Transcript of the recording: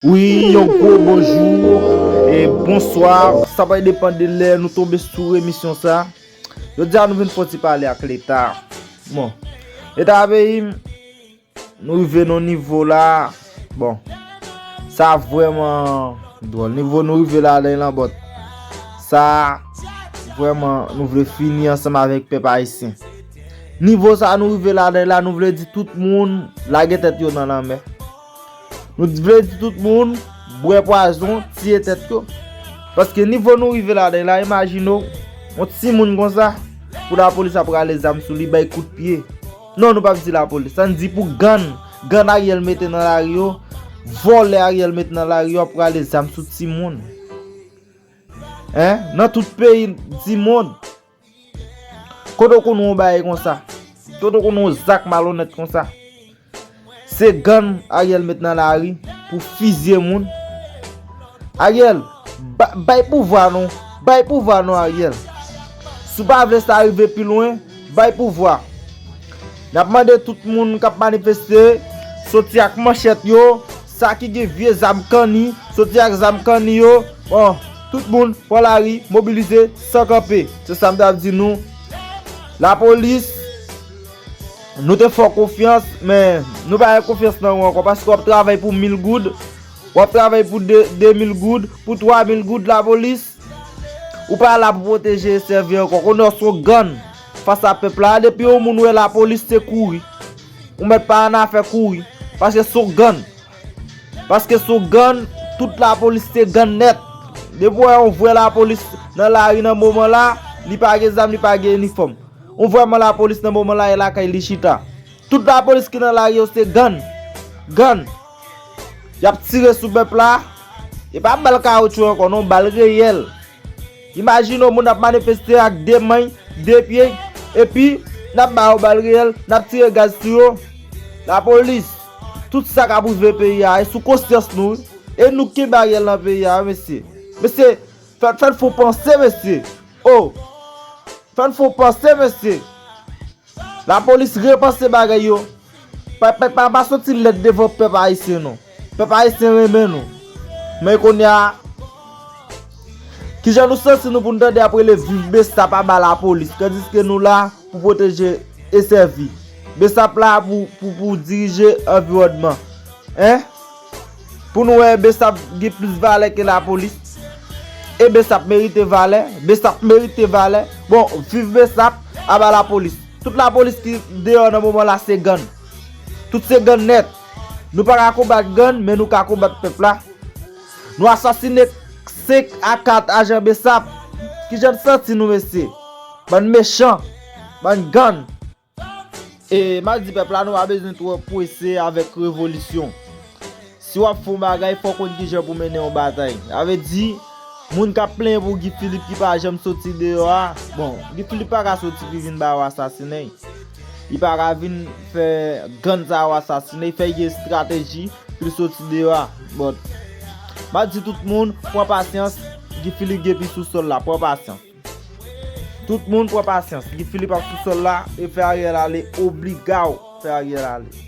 Wi yon gwo bonjour e bonsoir sa pral depan de lè nou tonbe sou emisyon sa Jodi a nou vin fon ti pale ak leta bon leta peyi m nou rive nan yon nivo la bon sa vreman dwòl nivo nou rive la lè lan bòt sa vreman nou vle fini ansanm avèk pèp ayisyen nivo sa nou rive la lè lan nou vle di tout moun lage tèt yo nan lanmè. Nou t vle di tout moun bwè pwazon tiye tèt yo paske nivo nou rive ladan la imajine w yon timoun konsa pou lapolis ap rale zam sou li bay kout pye non nou pap di lapolis ann di pou gann gann Ariel mete nan lari yo vòlè Ariel mete nan lari yo ap rale zam sou timoun hein nan tout peyi dimond. Kote w konn wè yon bagay konsa? Kote w konn wè yon zak malonèt konsa? Se gang Ariel met nan lari pou fizye moun. Ariel, bay pouvwa non. Bay pouvwa non Ariel. Si w pa vle sa rive pi lwen, bay pouvwa. N ap mande tout moun k ap manifeste, soti ak manchèt yo, Sa ki gen vye zam kanni, soti ak zam kanni yo, bon, tout moun pran lari, mobilize, san kanpe. Se sa m t ap di nou, lapolis, nou te fè w konfyans, men, nou pa gen konfyans nan ou ankò, paske w ap travay pou mil goud, w ap travay pou de mil goud, pou twa mil goud, lapolis, ou pa la pou pwoteje e sèvi ankò, konnen w s on gann, fas a pèp la, depi yon moun wè lapolis, se kouri. Ou mèt pa annafè kouri. Paske se w gann. Paske se w gann, tout lapolis te gann nèt. Depi w wè yon vrè lapolis nan lari nan moman la, li pa gen zam, li pa gen inifòm. Yon vrè man lapolis nan moman la e lakay li chita. Tout lapolis ki nan lari yo se gann. Gann. Y ap tire sou pèp la. E pa bal kawotchou ankò non, bal reyèl. Imajine yon moun ap manifeste ak 2 many, 2 pye, epi nap ba yo bal reyèl, nap tire gaz sou yo. Lapolis, tout sa kap rive peyi a, e sou konsyans nou wi. E nou ki kenbe Ariel nan peyi a wi mesye. Mesye, fè n fon panse mesye. Oh! Fè n fon panse mesye. La police repanse bagay yo. Ppa pa soti lèd devan pèp ayisyen non. Pèp ayisyen renmen nou. Men konya Kijan nou santi nou pou nou tande ap rele viv bsap aba la police tandiske nou la pou pwoteje e sèvi. Bsap la pou dirije anviwònman. Hein? Pou nou wè besap gen plis valè ke lapolis e besap merite valè besap merite valè bon viv besap aba lapolis tout lapolis ki deyò nan moman la se gann tout se gann nèt nou pa ka konbat gann men nou ka konbat pèp la nou asasine 5 a 4 ajan besap kijan n santi nou mesye bann mechan bann gann. E map di pèp la nou pa bezwen twò pwese avèk revolisyon. Si wap fè yon bagay fòw konn kijan pou mennen yon batay. Sa vle di, moun kap plenyen pou Guy Philippe ki pa janm soti deyò a, bon, Guy Philippe pa ka soti pi vin ba yo asasinen. Li pa ka vin fè gann sa yo asasinen, fè yon estrateji pou li soti deyò a. Bon, map di tout moun, pran pasyans, Guy Philippe gen pi sou sòl la, pran pasyans. Tout moun pran pasyans. Guy Philippe ap sou sol la e fè Ariel ale obligaw fè Ariel ale.